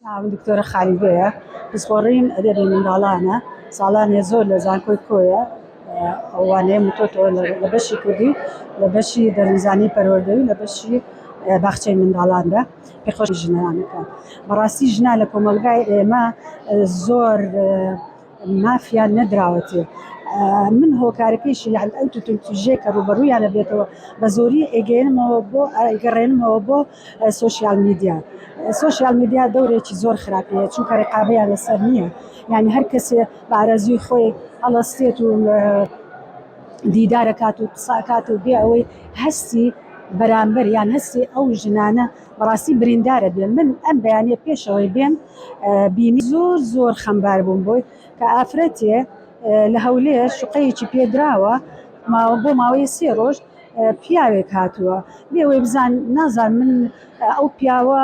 ناوم دکتۆرە خالیگەیە، پسپۆڕیم ئەدەبی منداڵانە، ساڵانێ زۆر لە زانکۆی کۆیە ئەو وانەیەم وتۆتەوە لە بەشی کوردی و لە بەشی دەروونزانی و پەروەردەی و لە بەشی باخچەی منداڵاندا پێشکەشی ژنانەکەم. بەڕاستی ژنان لە کۆمەڵگای ئێمە زۆر مافیان نەدراوەتێ من هۆکارەکەیشی یان ئەو توتن توژێ کە ڕوبەڕوویانە بێتەوە بە زۆری ئەگەێنمەوە بۆ ئەگەڕێنمەوە بۆ سوۆسیال میدیا سوۆسیال میدیا دەورێکی زۆر خراپەیە چونکە ڕقابەیان لەسەر نییە یان هەر کەسێ بارەزوی خۆی هەڵەستێت و دیدارەکات و قساکات و بێ ئەوەی هەستی بەرامبەر یان هەستی ئەو ژنانە بەڕاستی بریندارت بێ من ئەم بەیانیە پێشەوەی بێم بینی زۆر زۆر خەمبار بووم بۆی کە ئافرەتێ لە هەولێر شوقەیەکی پێدراوە ماوە بۆ ماوەی سێ ڕۆژ پیاوێک هاتووە بێوەی بزان نازان من ئەو پیاوە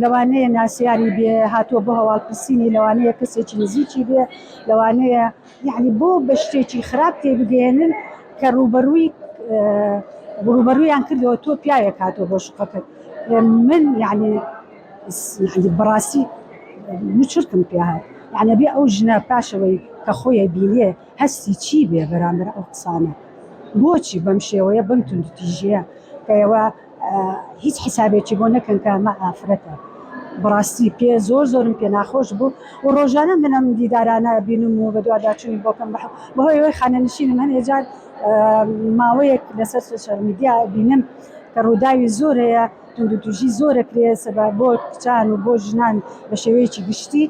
لەوانەیە ناسیاری بێ هاتووە بۆ هەواڵپرسینی لەوانەیە کەسێکی نزیکی بێ لەوانەیە یەعنی بۆ بە شتێکی خراپ تێبگەیەنن کە ڕووبەڕووی ڕووبەڕوویان کردەوە تۆ پیاوێک هاتۆ بۆ شوقەکەت من یعنی بەڕاستی مچرتم پێ هات یعنی بێ ئەو ژنە پاشەوەی کە خۆیە بینێ هەستی چی بێ بەرامبەر ئەو قسانە بۆچی بەم شێوەیە بم توندوتیژیە کە ئێوە هیچ حیسابێکی بۆ نەکەن کە ئەمە ئافرەتە بەڕاستی پێ زۆر زۆرم پێ ناخۆش بوو و ڕۆژانە من ئەم دیدارانە بینم و بەدواداچوونی بۆکەم بە بەهۆی ئەوەی خانەنشینم هەنێ جار ماوەیەک لەسەر سوشەر میدیا بینم کە ڕووداوی زۆر هەیە توندو توژی زۆرە کرێسە بە بۆ کچان و بۆ ژنان بە شێوەیەکی گشتی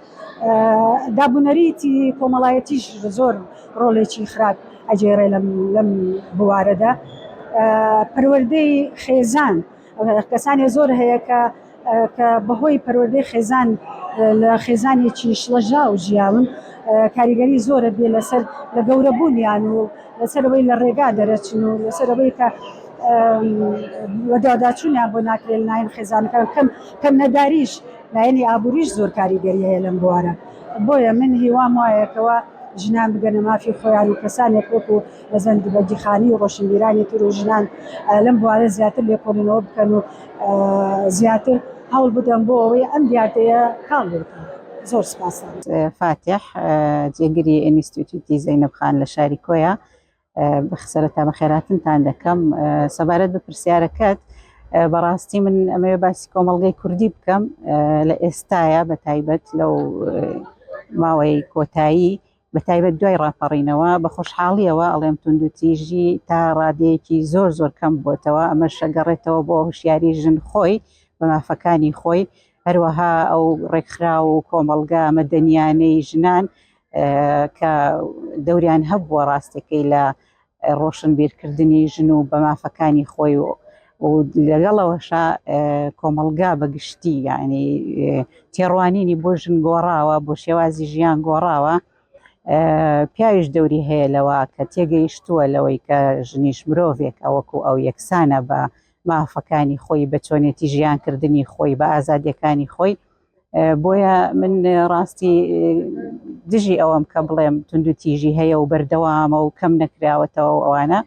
دابونەریتی کۆمەڵایەتیش زۆر ڕۆڵێکی خراپ ئەگێڕێ لەم بوارەدا پەروەردەی خێزان کەسانی زۆر هەیە کە کە بەهۆی پەروەردەی خێزان لە خێزانێکی شڵەژاو ژیاون کاریگەری زۆرە بێ لەسەر لە گەورەبوونیان و لەسەرەوەی لە ڕێگا دەرەچن و لەسەرەوەی کە وەداداچوونیان بۆ ناکرێن ناین خێزانەکان کەم کەم نەداریش لایەنی ئابووریش زۆر کاریگەری هەیە لەم بوارە بۆیە من هیوام وایە کەوا ژنان بگەنە مافی خۆیان و کەسانێک وەکو مەزەند بەگیخانی و ڕۆشنبیرانی تر و ژنان لەم بوارە زیاتر لێکۆڵینەوە بکەن و زیاتر هەوڵ بدەن بۆ ئەوەی ئەم دیاردەیە کاڵ بکەن. زۆر سپاس. فاتیح جێگری ئینستیتوتی زەینەب خان لە شاری کۆیە سەرەتا بەخێراتنتان دەکەم سەبارەت بە پرسیارەکەت بەڕاستی من ئەمەوێ باسی کۆمەڵگەی کوردی بکەم لە ئێستاە بە تایبەت لەو ماوەی کۆتایی بە تایبەت دوای ڕاپەڕینەوە بە خۆشحاڵیەوە ئەڵێم توندوتیژی تا ڕادەیەکی زۆر زۆر کەم بۆتەوە ئەمە شەگەڕێتەوە بۆ هوشیاری ژن خۆی بە مافەکانی خۆی هەروەها ئەو ڕێکخرا و کۆمەڵگا مەدەنیانەی ژنان کە دەوریان هەبووە ڕاستەکەی لە ڕۆشنبیرکردنی ژن و بە مافەکانی خۆی و لەگەڵەوەشە کۆمەلگا بەگشتی یعنی تێڕوانینی بۆ ژن گۆڕاوە بۆ شێوازی ژیان گۆڕاوە پیاویش دەوری هەیە لەوە کە تێگەیشتووە لەوەی کە ژنیش مرۆڤێک ئەوەکو ئەو یەکسانە بە مافەکانی خۆی بە چۆنێتی ژیانکردنی خۆی بە ئازادیەکانی خۆی بۆیە من ڕاستی دژی ئەوەم کە بڵێم تونند و تیژی هەیە و بەردەوامە و کەم نەکراوەتەوە ئەوانە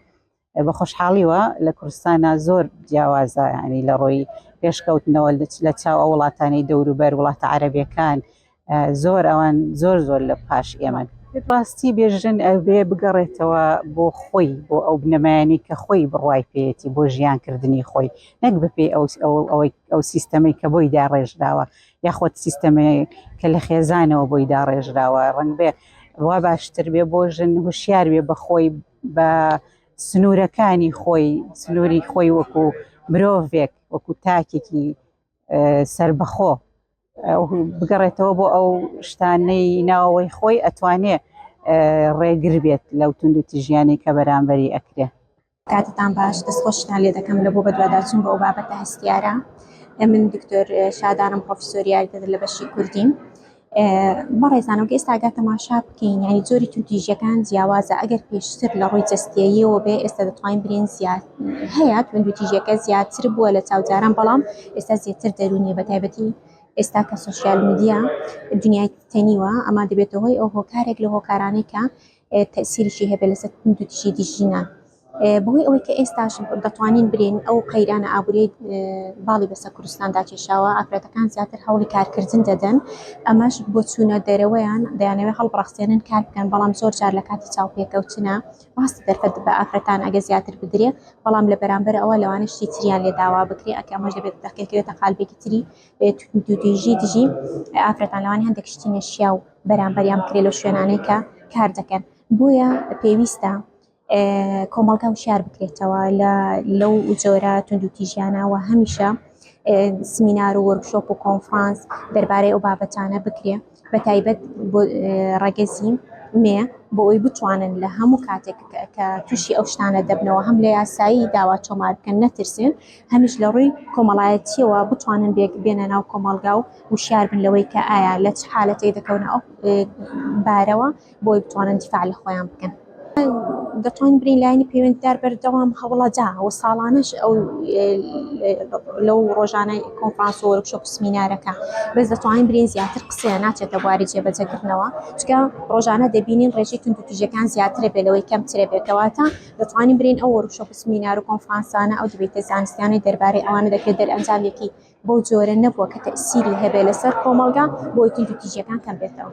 بە خۆشحاڵیوە لە کوردستانە زۆر جیاوازە ینی لە ڕۆی پێشکەوتنەوە لە چاو ئەو وڵاتانی دەوروبەر وڵاتە عربەکان زۆر ئەوان زۆر زۆر لە پاش ئێمە ڕاستی بێژن ئەوێ بگەڕێتەوە بۆ خۆی بۆ ئەو بنەمایانی کە خۆی بڕای پێێتی بۆ ژیانکردنی خۆی نەک بەپێی ئەو سیستەمەی کە بۆی داڕێژراوە یاخۆت سیستەمەیە کە لە خێزانەوە بۆی داڕێژراوە ڕنگ بێ وا باشتر بێ بۆ ژن هوشیار بێ بەخۆی بە سنوورەکانی خۆی سنووری خۆی وەکو مرۆڤێک وەکو تاکێکی سربەخۆ بگەڕێتەوە بۆ ئەو شتانەی ناوەوەی خۆی ئەتوانێ ڕێگر بێت لەو تونند و تیژیانی کە بەرامبەری ئەکرێ کاتتان باش دەست خۆشتان لێ دەکەم لە بۆ بەدواداچون بۆ ئەو بابەتە هەستیارە من دکتۆر شادانم پرۆفسۆری یاریدەدەر لە بەشی کوردیم بەڕێزانەوە ئێستاگە تەماشا بکەین یعنی جۆری توندیژەکان جیاوازە ئەگەر پێشتر لە ڕووی جستیەوە بێ ئێستا دەتوانین برین زیاد هەیە توندوتیژەکە زیاتر بووە لە چاوجاران بەڵام ئێستا زیاتر دەرونیە بە تایبەتی ئێستا کە سوسیال میدیا دنیای تەنیوە ئەما دەبێتەوەی ئەو هۆکارێک لە هۆکارانێکە تەئسیریشی هەبێت لەسەر توندوتیژی دژی ژنان بەهۆی ئەوەی کە ئێستاش دەتوانین برێن ئەو قەیرانە ئابووری باڵی بەسە کوردستاندا کێشاوە ئافرەتەکان زیاتر هەوڵی کارکردن دەدەن ئەمەش بۆ چوونە دەرەوەیان دەیانەوێت هەڵبڕەخسێنن کار بکەن بەڵام زۆر جار لە کاتی چاوپێکەوتنە ڕاست دەرفەت بە ئافرەتان ئەگە زیاتر بدرێ بەڵام لە بەرامبەر ئەوە لەوانە شتی تریان لێ داوا بکرێ ئەکە ئەمەش دەبێت دەقێکەوێتە قالبێکی تری دوودیژی دژی ئافرەتان لەوانی هەندێک شتی نەشیاو بەرامبەریان بکرێت لەو شوێنانەی کە کار دەکەن بۆیە پێویستە کۆمەڵگا وشار بکرێتەوە لە لەو جۆرە توندوتیژیانەوە هەمیشە سمینار و وەرکشۆپ و کۆنفرانس دەربارەی ئەو بابەتانە بکرێ بە تایبەت ڕگەزی مێ بۆ ئەوی بتوانن لە هەموو کاتێک کە تووشی ئەو شتانە دەبنەوە هەم لە یاسایی داوا تۆمار بکەن نەترسێن هەمیش لە ڕووی کۆمەڵایەتییەوە بتوانن بێک بێنە ناو کۆمەڵگا و وشیار بن لەوەی کە ئایا لە چ حالەتێک دەکەونە ئەو بارەوە بۆی بتوانن دیفاع لە خۆیان بکەن. دەتوانین بڵێین لایەنی پەیوەندیدار بەردەوام هەوڵەدا و ساڵانەش ئەو لەو ڕۆژانەی کۆنفرانس و وەرکشۆپ و سمینارەکە بەس دەتوانین بڵێین زیاتر قسەیان ناچێتە بواری جێبەجێکردنەوە چونکە ڕۆژانە دەبینین ڕێژەی توندوتیژەکان زیاترە بێ لەوەی کەمترە بێ کەواتە دەتوانین برێین ئەو وۆرکشۆپ و سمینار و کۆنفرانسانە، ئەو دیبەیتە زانستیانەی دەربارەی ئەوانە دەکرێت دەرئەنجامێکی بەو جۆرە نەبووە کە تەئسیری هەبێت لەسەر کۆمەڵگا بۆی توندوتیژیەکان کەم بێتەوە.